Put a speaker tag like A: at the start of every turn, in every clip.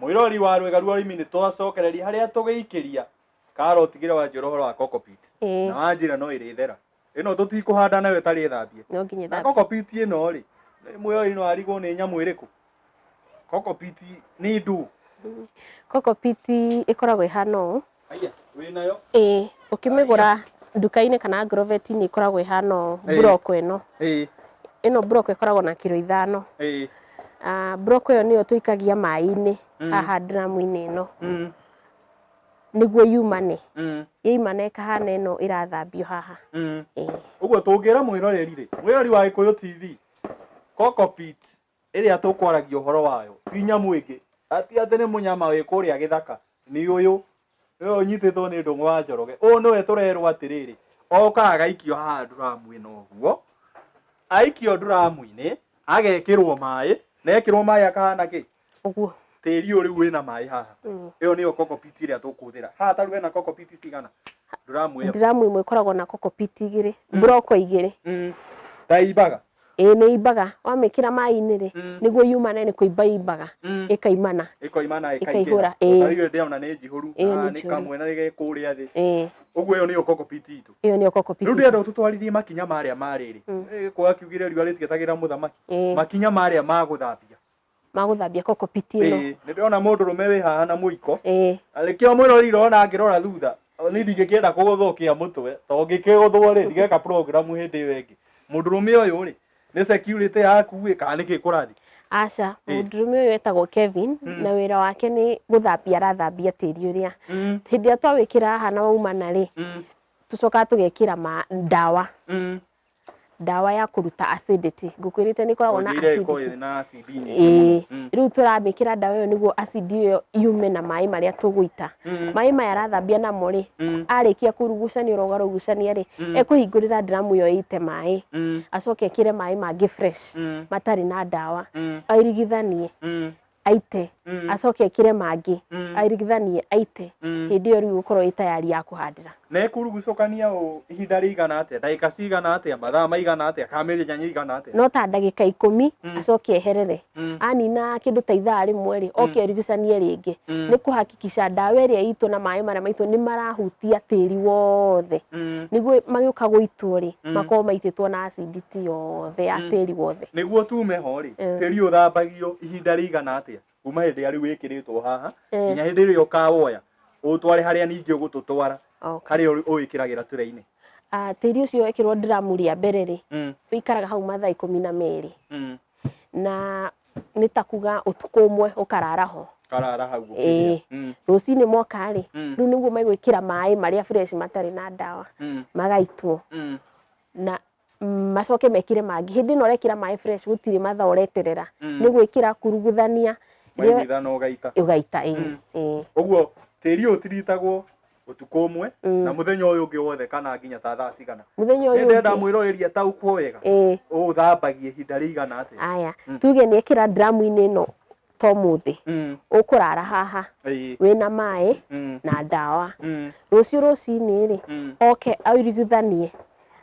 A: Mwĩrori wa rwĩga rwa ũrĩmi nĩ twacokereria harĩa tũgĩikĩria karo ũtigĩre wa njĩra ũhoro wa cockpit na wa njĩra no ĩrĩ thera ĩno tũtikũhanda nayo ĩtarĩ thambie na cockpit
B: ĩno
A: rĩ mwĩrori no arigwo nĩ nyamũ ĩrĩkũ cockpit nĩ ndũ cockpit
B: ĩkoragwo ĩhana ũũ Haya, wĩ nayo?
A: Ĩĩ, ũkĩmĩgũra
B: nduka-inĩ kana ngroveti-inĩ ikoragwo ĩhana ũũ, Ĩĩ. mburoko ĩno. Ĩĩ, Ĩno mburoko ĩkoragwo na kiro ithano. ĩĩ. Ah, Mburoko ĩyo nĩyo tũikagia maĩ-inĩ Mm. haha ndiramu-inĩ ĩno Mm, nĩguo yumane. mm, Yaimana ĩkahana ĩno ĩrathambio haha. mm. Ĩĩ. Ũguo
A: tũngĩra mwĩroreri-rĩ, mwĩroreri wa Gĩkũyũ TV, Cockpit, ĩrĩa tũkwaragia ũhoro wayo ti nyamũ ĩngĩ ati atĩ nĩ mũnyama wĩ kũrĩa gĩthaka, nĩ ũyũ, ũyũ ũnyitĩtwo nĩ ndũng'ũ wa Njoroge. Ũyũ nĩwe tũrerwo atĩrĩrĩ, okaga agaikio haha nduramu-inĩ ũguo, aikio nduramu-inĩ, agekĩrwo maĩ, na ekĩrwo maĩ akahana kĩ? Ũguo. Tĩri
B: ũyũ rĩu wĩna
A: maĩ haha, ĩyo nĩyo cockpit ĩrĩa tũkũhũthĩra. Haha ta rĩu hena cockpit cigana? Nduramu ĩyo. Nduramu ĩmwe ĩkoragwo
B: na cockpit igĩrĩ, mburoko igĩrĩ. Ta imbaga.
A: ĩĩ nĩ imbaga
B: wamĩkĩra maĩ-inĩ rĩ Mm. nĩguo yumane nĩ kũimba imbaga Mm. ĩkaimana ĩkoimana Ĩkaihũra,
A: ĩkaingĩra ĩĩ. ũtarĩu ndĩ ona nĩ njihũru Ĩĩ, nĩ Ah, nĩ njihũru. kamwe na rĩgĩ kũrĩa thĩ ĩĩ ũguo ĩyo nĩyo kokopiti itũ ĩyo nĩyo kokopiti rĩu ndĩrenda ũtũtwarithie makinya marĩa marĩrĩ Mm. gĩkũyũ akiugire riũa rĩtigetagĩra mũthamaki ĩĩ makinya marĩa ma gũthambia
B: magũthambia kokopit ĩno Ĩĩ, nĩ ndĩrona mũndũ rũme
A: wĩ haha na mũiko Ĩĩ. rĩkĩo mwĩrorire ona ngĩrora thutha nĩ ndingĩkĩenda kũgũthwo kĩa mũtwe to ngĩkĩgũthwo rĩ ndigeka program hĩndĩ ĩyo ĩngĩ mũndũ rũme ũyũ rĩ nĩ security yaku ĩ kana nĩkĩ kũrathiĩ aca Ĩĩ.
B: mũndũrũme ũyũ etagwo kevin Mm. na wĩra wake nĩ gũthambia arathambia tĩri ũrĩa Mm, hĩndĩ ĩrĩa twawĩkĩra haha na waumana rĩ mm, tũcokaga tũgekĩra ma ndawa mm, ndawa ya kũruta acidity ngũkwĩrĩte nĩ ikoragwo na Ũnjĩire ĩkorwo acidity ĩrĩ na acidi nyingĩ Ĩĩ. mũno. Mm. rĩu tũramĩkĩra ndawa ĩyo nĩguo acidi ĩyo yume na maĩ marĩa tũgũita Mm. maĩ maya arathambia namo rĩ Mm. arĩkia kũrugucania ũrogarugucania rĩ Mm. ekũhingũrĩra ndiramu ĩyo ĩite maĩ Mm. acoke ekĩre maĩ mangĩ fresh Mm. matarĩ na ndawa Mm. airigithanie Mm. aite Mm. acoke ekire mangĩ Mm. airigithanie aite Mm. hĩndĩ ĩyo rĩu gũkorwo ĩ tayari ya kũhandĩra na ĩkurugucũkania
A: ũ ihinda rĩigana atĩa ndagĩka cigana atĩa mathaa maigana atĩa kana mĩthenya ĩigana atĩa no ta ndagĩka ikũmi
B: Mm. acoke eherere Mm, anina kĩndũ ta ithaa rĩmwe rĩ oke arigucanie rĩngĩ mm, nĩ kũhakikica ndawa ĩrĩa itũ na maĩ marĩa maitũ nĩ marahutia tĩri wothe mm, nĩguo magĩũka gũitwo rĩ Mm. makorwo maitĩtwo na acindi ti yothe ya Mm. tĩri wothe nĩguo tume ho-rĩ
A: Eh. tĩri ũthambagio ihinda rĩigana atĩa kuma hĩndĩ ĩrĩa rĩu wĩkĩrĩtwo haha Eh. nginya hĩndĩ ĩrĩa ũkawoya ũtware harĩa ningĩ ũgũtũtwara Okay. harĩa ũrĩ- ũwĩkĩragĩra tũrĩ-inĩ Ah, tĩri ũcio
B: wekĩrwo ndiramu rĩa mbere rĩ Mm, wĩikaraga hau mathaa ikũmi na merĩ mm. na nĩ ta kuga ũtukũ ũmwe ũkarara ho karara hau Eh. ũkĩrĩa.
A: Mm,
B: rũcinĩ moka rĩ Mm. rĩu nĩguo megwĩkĩra maĩ marĩa fresh matarĩ na ndawa mm, magaitwo mm. na mm, macoke mekire mangĩ hĩndĩ ĩno ũrekĩra maĩ fresh gũtirĩ mathaa ũreterera Mm. nĩ gwĩkĩra kuruguthania rĩo- maimithana ũgaita ũgaita ĩĩ, Mm. ĩĩ,
A: ũguo tĩri ũyũ ũtiritagwo ũtukũ ũmwe Mm. na mũthenya ũyũ ũngĩ wothe kana nginya ta thaa cigana mũthenya nĩ ũyũ ndenda ũngĩ-
B: mwĩroreria taũkuo
A: wega ĩĩ, ũthambagia ihinda rĩigana atĩa aya Mm. tuge nĩ ekĩra
B: dramu-inĩ ĩno to mũthĩ Mm. ũkũrara haha Ĩĩ. wĩna maĩ Mm. na ndawa Mm. rũciũ rũcinĩ rĩ Mm. oke airiguthanie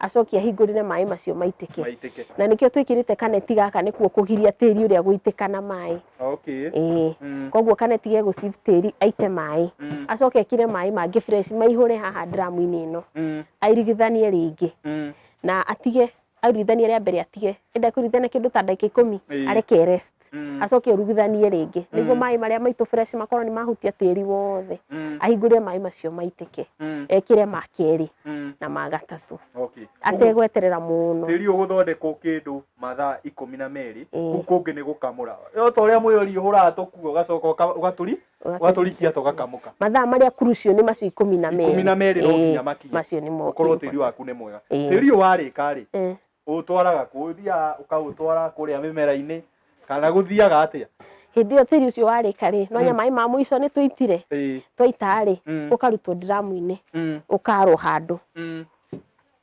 B: acoke ahingũrĩre maĩ macio maitĩke Maitĩke. na nĩkĩo twĩkĩrĩte kaneti gaka nĩkuo kũgiria tĩri ũrĩa gũitĩka na maĩ Okay. ĩĩ Mm. koguo kaneti ge gũcib tĩri aite maĩ Mm. acoke ekĩre maĩ mangĩ fresh maihũre haha ndiramu-inĩ ĩno Mm. airigithanie rĩngĩ Mm. na atige aruithanie rĩa mbere atige enda kuruithana kindu ta ndagika ikumi areke rest mm. acoke urugithanie ringi mm. niguo mai maria maitu fresh makorwo ni mahutia tiri wothe mm. ahingure mai macio maitike mm. ekire ma keri mm. na ma gatatu okay. ategweterera muno tiri uguthondekwo
A: kindu mathaa ikumi na meri kuu kungi ni gukamura to uria mwiyori uhuraga tukuo ugacoka ugaturi watũrikia tũgakamũka mathaa marĩa kurucio
B: nĩ macio ikũmi na merĩ ikũmi na merĩ no Eh, nginya
A: makinye macio nĩ mo ũkorwo tĩri
B: waku nĩ mwega
A: Eh. tĩri ũyũ warĩka rĩ Eh, ũtwaraga kũ ũthiaga ũkaũtwara kũrĩa mĩmera-inĩ kana gũthiaga atĩa hĩndĩ ĩyo tĩri ũcio
B: warĩka rĩ no nya maĩ ma mũico nĩ tũitire Ĩĩ, twaita rĩ Mm. ũkarutwo ndiramu-inĩ mm, ũkarwo handũ mm.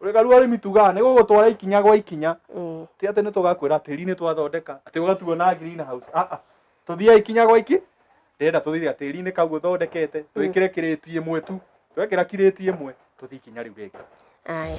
A: Ũrĩgaru arĩmi tugaga nĩ gũgũtwara ikinya gwa ikinya. Mm. Ti atĩ nĩ tũgakwĩra tĩri nĩ twathondeka, atĩ ũgatuo na green house. Ah ah. Tũthiaga ikinya gwa iki. Ndĩrenda tũthiaga tĩri-inĩ kau ũthondekete, twĩkĩre mm. kirĩti ĩmwe tu. Twekĩra kirĩti ĩmwe, tũthiĩ ikinya rĩu rĩngĩ. Aya.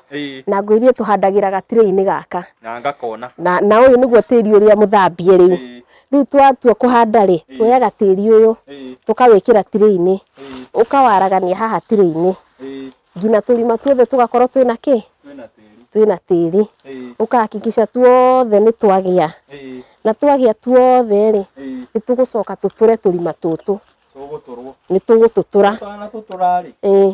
B: Ĩĩ. na ngwĩrie tũhandagĩra gatirĩ-inĩ gaka Na ngakona.
A: na, na ũyũ nĩguo
B: tĩri ũrĩa mũthambie rĩu Ĩĩ. rĩu twatua kũhanda rĩ Ĩĩ. tuoyaga tĩri ũyũ Ĩĩ. tũkawĩkĩra tirĩ-inĩ Ĩĩ. ũkawaragania haha tirĩ-inĩ Ĩĩ. nginya tũrima tuothe tũgakorwo twĩna kĩ Twĩna tĩri. twĩna tĩri Ĩĩ. ũkahakikica tuothe nĩ twagĩa Ĩĩ. na twagĩa tuothe rĩ Ĩĩ. nĩ tũgũcoka tũtũre tũrima tũtũ Tũgũtũrwo. nĩ tũgũtũtũra Ũtanatũtũra rĩ, ĩĩ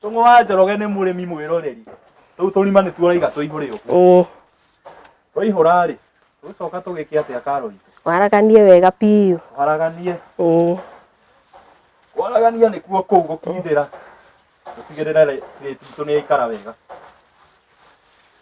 A: Tũng'ũ wa Njoroge nĩ mũrĩmi mwĩroreri. Tũu tũrima nĩtuo ũraiga tũihũre ũguo. Ĩĩ. Twaihũra rĩ, tũgũcoka tũgĩke atĩa karo itũ? Waraganie wega
B: biũ. Twaraganie.
A: Ĩĩ. Kwaragania nĩkuo kũu gũkindĩra. Tũtigĩrĩre rĩ- rĩti itũ nĩyaikara wega.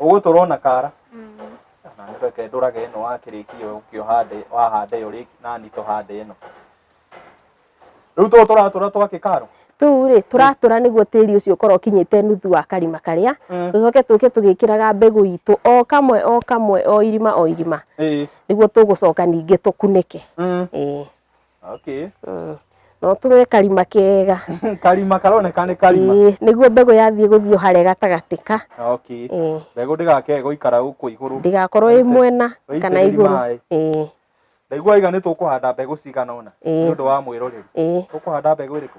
A: ũgũtũrwo na kara reke ndũrage ĩno wakĩrĩkia ũkĩohande wahanda ĩyo rĩngĩ nani tũhande ĩno rĩu tũũ tũratũra twa kĩkaro tũu rĩ tũratũra
B: nĩguo tĩri ũcio ũkorwo ũkinyĩte nuthu wa karima karĩa Mm. tũcoke tũke tũgĩkĩraga mbegũ itũ o kamwe o kamwe o irima o irima Ĩĩ. nĩguo tũgũcoka ningĩ tũkunĩke Mm. Ĩĩ.
A: Okay. Mm.
B: no tũre karima kega karima karoneka
A: nĩ karima Ĩĩ, nĩguo mbegũ yathiĩ
B: gũthiĩ harĩa gatagatĩ ka okay Ĩĩ,
A: mbegũ ndĩgakee gũikara gũkũ igũrũ ndĩgakorwo ĩ Waite- mwena
B: kana waitĩrĩri igũrũ maĩ. Ĩĩ, ndaigua
A: iga nĩ tũkũhanda mbegũ cigana ũna Ĩĩ. nĩ ũndũ wa mwĩroreri ĩĩ. tũkũhanda mbegũ ĩrĩkũ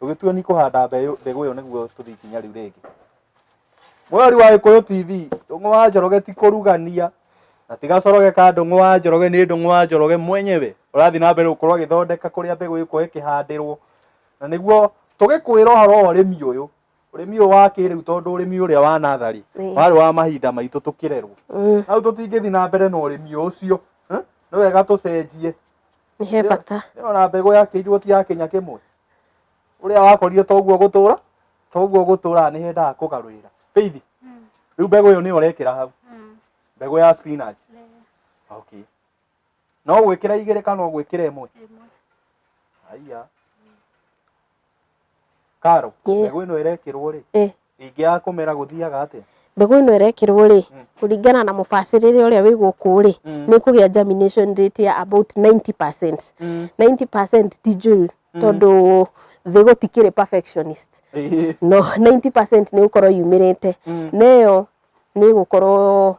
A: tũgĩtua ni kũhanda mbeũ- mbegũ ĩyo nĩguo tũthiĩ ikinya rĩu rĩngĩ mweri wa gĩkũyũ tv ndũng'ũ wa njoroge ti kũrugania na ti gacoroge ka ndũng'ũ wa njoroge nĩ ndũng'ũ wa njoroge mwenyewe ũrathiĩ na mbere gũkorwo agĩthondeka kũrĩa mbegũ ĩkũyũ ĩkĩhandĩrwo na nĩguo tũgĩkwĩra ũhoro wa ũrĩmi ũyũ ũrĩmi ũyũ wa kĩrĩu tondũ ũrĩmi ũrĩa wa natharĩ Ĩĩ. warĩ wa mahinda maitũ tũkĩrerwo Mm, hau tũtingĩthiĩ na mbere na ũrĩmi ũcio eh? nĩ wega tũcenjie nĩ he
B: bata ndĩrona mbegũ yakĩirwo
A: ti ya kĩnya kĩmwe uria wakorire toguo gutura toguo gutura ni hendaga kugaruira feithi Mm. riu mbegu iyo ni urekira hau Mm. mbegu ya spinach Le. okay no gwikira igiri kana gwikira imwe Ĩmwe. haiya karo Ĩĩ. mbegu ino irekirwo ri Eh. Ĩngĩ ya kũmera gũthiaga atĩa? Mbegũ ĩno ĩrekĩrwo
B: rĩ, mm. kũringana na mũbacĩrĩre ũrĩa wĩ gũkũ rĩ, mm. nĩ kũgĩa germination rate ya about 90%. 90% mm. ti njũru tondũ thĩ gũtikĩrĩ perfectionist. No 90% nĩ gũkorwo yumĩrĩte. Neyo nĩ gũkorwo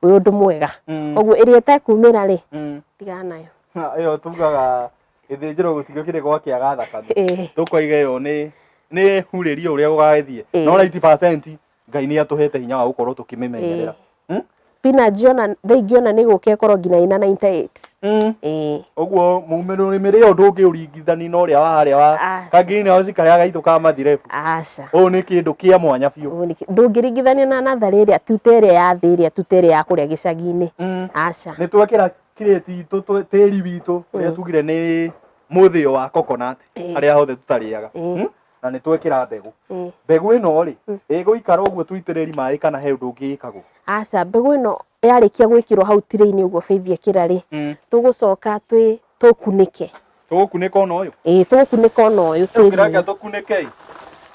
B: wĩ ũndũ mwega Mm. ũguo ĩrĩa ĩtekumĩra rĩ Mm. tigana nayo Na ĩyo tugaga
A: gĩthĩnjĩro gũtigio kĩrĩ gwa kĩaga thakame Ĩĩ. tũkoiga ĩyo nĩ nĩ hurĩrio ũrĩa gũgagĩthiĩ Ĩĩ. no 90 ngai nĩ atũhete hinya wa gũkorwo tũkĩmĩmenyerera Ĩĩ. Hmm? spinach
B: ona thaa ingĩ ona nĩ gũka ĩkorwo nginya ĩna 98 Mm. ĩĩ Ũguo
A: mũmero nĩ mĩrĩ ũndũ ũngĩ ũringithani na ũrĩa wa harĩa wa Aca. ka green house karĩa gaitũ ka mathirebu. aca Ũũ nĩ
B: kĩndũ kĩa
A: mwanya biũ. Ũguo nĩkĩ- ndũngĩringithania na
B: natharĩ ĩrĩa tuta ĩrĩa ya thĩ ĩrĩa tuta ĩrĩa ya kũrĩa gĩcagi-inĩ Mm. aca Nĩ twekĩra
A: kirĩti itũ twe- tĩri witũ ũrĩa Mm. tugire nĩ mũthĩo wa coconut Ĩĩ. harĩa hothe tũtarĩaga. Ĩĩ. Mm. Na nĩ twekĩra mbegũ. Ĩĩ. Mbegũ ĩno rĩ, Mm. ĩgũikara ũguo tũitĩrĩri maĩ kana he ũndũ ũngĩ ĩkagwo. aca mbegũ ĩno
B: yarĩkia gwĩkĩrwo hau tirĩ-inĩ ũguo Faith ekĩra rĩ Mm. tũgũcoka twĩ tũkunĩke tũgũkunĩka
A: ona ũyũ ĩĩ tũgũkunĩka ona
B: ũyũ reke tĩri tũkunĩke
A: ĩ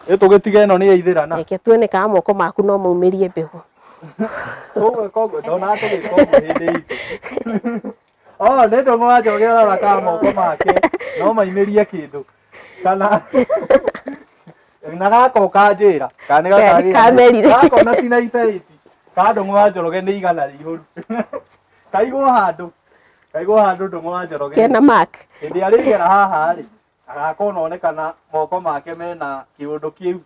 A: Ĩ tũgĩtiga ĩno nĩ yaithĩrana reke tuone kana moko
B: maku no maumĩrie mbegũ tũgwĩka
A: ũguo ndonaga tũgĩka ũguo hĩndĩ itũ Oh, nĩ ndũng'ũ wa njoge ũrarakaga moko make no mainĩrie kĩndũ kana na gaka ũkanjĩra kana nĩ Ke- gaka kamerire. gaka na
B: tina itaiti
A: ka ndũng'ũ wa njoroge nĩ igana rĩihũru kaigwo handũ kaigwo handũ ndũng'ũ wa njoroge kena mark hĩndĩ
B: ĩrĩa rĩgera haha
A: rĩ agakorwo nonekana moko make mena kĩũndũ kĩu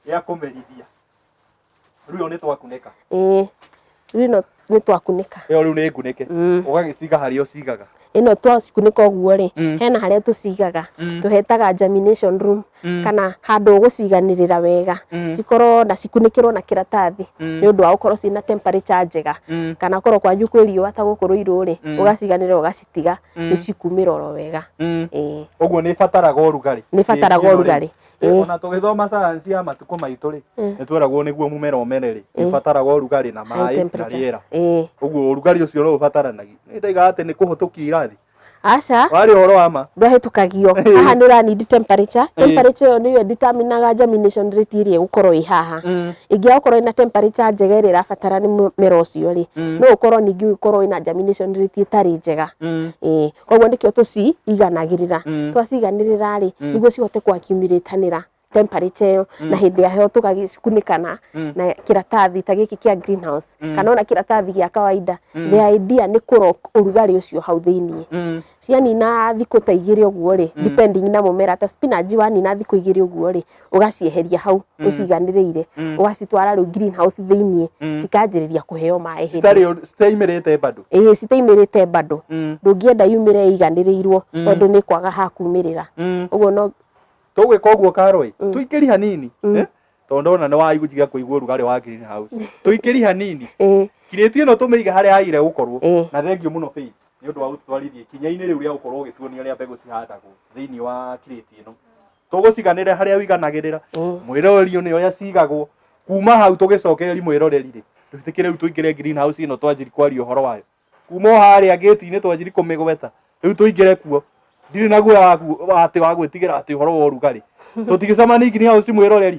A: gĩa kũmerithia Rĩu ĩyo nĩ twakunĩka. ĩĩ rĩu
B: ĩno nĩ twakunĩka Ĩyo rĩu nĩ ngunĩke.
A: Mm. Ũgagĩciga harĩa ũcigaga. ĩno twacikunĩka
B: ũguo rĩ Mm. hena harĩa tũcigaga Mm. tũhetaga germination room Mm. kana handũ ũgũciganĩrĩra wega Mm. cikorwo na cikunĩkĩrwo na kĩratathi Mm. nĩ ũndũ wa gũkorwo ciĩna temperature njega Mm. kana korwo kwanyu kwĩ riũa ta gũkũ rũirũ rĩ Mm. ũgaciganĩrĩra ũgacitiga Mm. nĩ cikumĩra oro wega Mm. ĩĩ Ũguo nĩ
A: ĩbataraga ũrugarĩ. nĩ bataraga Ĩyo rĩ. ũrugarĩ
B: Eh. ona
A: tũgĩthoma sayansi ya matukũ maitũ rĩ Eh. nĩ tweragwo nĩguo mũmera ũmere rĩ Eh. ĩbataraga ũrugarĩ na High maĩ na temperatures. rĩera Eh. ũguo ũrugarĩ ũcio no ũbataranagia nĩ ndaiga atĩ nĩ kũhũtũkia irathi aca warĩ
B: ũhoro wa ma
A: ndwahĩtũkagio Eh.
B: haha nä å need temperature Eh. temperature ä yo nä yo determinaga germination rate ä rä ä gå korwo ä haha Mm, ä ngä akorwo ä na temperature njega ä rä ä rabatara nä må mera å cio rä Mm. no å korwo ningä å korwo wä na germination rate ä tarä njega mm. Ĩĩ. koguo nĩkĩo tũciiganagĩrĩra Mm. twaciiganĩrĩra rĩ Mm. nĩguo cihote kũakiumĩrĩtanĩra temperature ĩyo na hĩndĩ ya heho tũgagĩcikunĩka na Mm. na kĩratathi ta gĩkĩ kĩa greenhouse Mm. kana ona kĩratathi gĩa kawaida Mm. the idea nĩ kũrok ũrugarĩ ũcio hau thĩinĩ Mm. cianina thikũ ta igĩrĩ ũguo rĩ depending na mũmera ta spinach wanina thikũ igĩrĩ ũguo rĩ ũgacieheria hau Mm. ũciganĩrĩire Mm. ũgacitwara rĩu green house thĩinĩ Mm. cikanjĩrĩria kũheo maĩ hĩndĩ citarĩ ũndũ- citaimĩrĩte
A: bado ĩĩ citaimĩrĩte bado
B: Mm, ndũngĩenda yumĩre iganĩrĩirwo Mm. tondũ nĩ kwaga ha kumĩrĩra mm. ũguo no tũgwĩka ũguo
A: karoi Mm. tũikĩri hanini Mm. eh? tondũ ndona nĩ waigujiga kũigua ũrugarĩ wa green house tũikĩri hanini ĩĩ kirĩti ĩno tũmĩiga harĩa yagire gũkorwo ĩĩ na thengiũ mũno Faith nĩ ũndũ wa gũtwarithia ikinya-inĩ rĩu rĩa gũkorwo ũgĩtuonia rĩa mbegũ cihandagwo thĩinĩ wa kirĩti ĩno tũgũciganĩre harĩa wiganagĩrĩra Mm. mwĩroreri nĩ ũrĩa cigagwo kuma hau tũgĩcokereri mwĩroreri rĩ twĩtĩkĩre rĩu tũingĩre green house ĩno twanjiri kwaria ũhoro wayo kuma o harĩa gĩti-inĩ twanjiri kũmĩgweta rĩu tũingĩre kuo ndirĩ na guoya waku- wa atĩ wa gwĩtigĩra atĩ ũhoro wa ũrugarĩ tũtigĩcemanie green house mwĩroreri